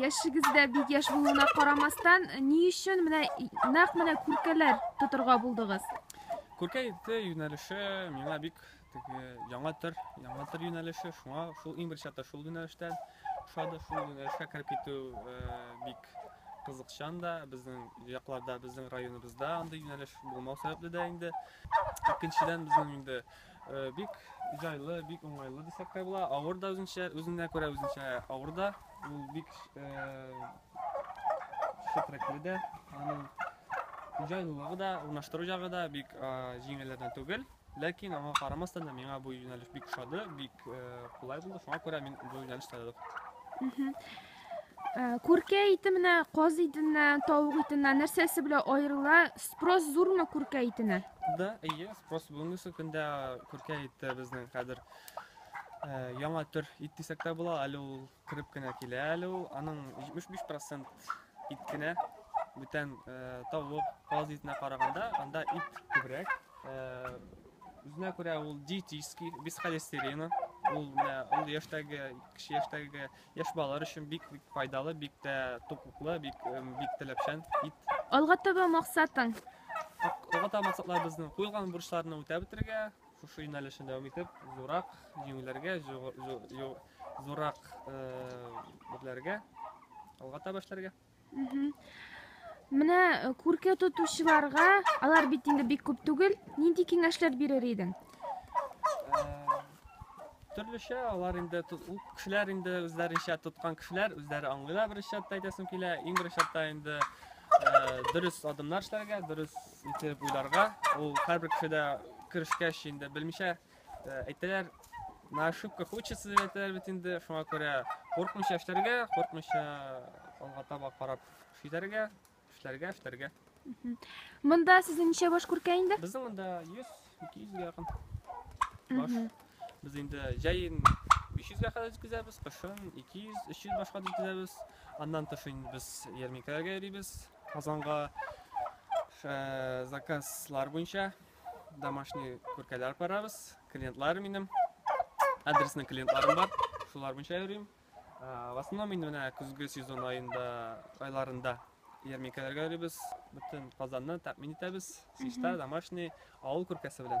Яшегездә бик яш булуына карамастан, ни өчен менә нәкъ менә күркәләр тотырга булдыгыз? Күркә ите юнәлеше миңа бик теге яңа төр, яңа төр юнәлеше, шуңа шул иң беренче чатта шул юнәлештән ошады, шул юнәлешкә кереп китү э, бик кызыкчан да, безнең якларда, безнең районыбызда андый юнәлеш булмау сәбәпле дә инде. Икенчедән безнең инде Бик җайлы, бик уңайлы дисәк тә була. Авыр да үзенчә, үзенә күрә үзенчә авыр да. Ул бик шәфрәкле дә, аның җайлылыгы да, урнаштыру ягы да бик җиңелләрдән түгел. Ләкин аңа карамастан да миңа бу юнәлеш бик ошады, бик кулай булды. Шуңа күрә мин бу юнәлештә дә Э, күркә ите менә каз итеннән тавык итеннән нәрсәсе белән аерыла спрос зурмы күркә итенә да әйе спрос бүгенге көндә күркә ите безнең хәзер э, яңа төр ит дисәк тә була әле ул кереп кенә килә әле ул аның 75 процент ит кенә бүтән э, тавык каз итенә караганда анда ит күбрәк үзенә күрә ул диетический без холестерина ул менә ул яшьтәге кеше яшьтәге Яшь балалар өчен бик бик файдалы, бик тә туклыклы, бик эм, бик теләпчән ит. Алга таба максатың? Алга таба максатлар безнең куелган бурычларны үтәп бетерергә, шушы юнәлешне дәвам итеп, зурак җиңүләргә, зу- зу- зу- зурак э, бирләргә алга таба эшләргә. Менә э, күркә тотучыларга, алар бит инде бик күп түгел, нинди киңәшләр бирер идең? Э, төрлечә алар инде ул кешеләр инде үзләренчә тоткан кешеләр үзләре аңлыйлар беренче чатта әйтәсем килә иң беренче чатта инде э, дөрес адымнар эшләргә дөрес итеп уйларга ул һәрбер кешедә керешкәч инде белмичә Әйтәләр, на ошибках учатся дип әйтәләр бит инде, шуңа күрә куркмыйча эшләргә, куркмыйча алга таба карап эшләргә, эшләргә, эшләргә. Монда сезнең ничә баш күркә инде? Безнең монда 100, 200 гә якын баш. Без инде җәен 500 гә кадәр җиткезәбез, кышын 200, 300 башка җиткезәбез. Аннан тыш инде без ярминкәләргә йөрибез. Казанга э, заказлар буенча домашний күркәләр барабыз, клиентлар минем. Адресный клиентларым бар, шулар буенча йөрим. В основном мин менә көзге сезон аенда, айларында ярминкәләргә йөрибез. Бөтен Казанны тәэмин итәбез. Сишта, домашний, авыл күркәсе белән.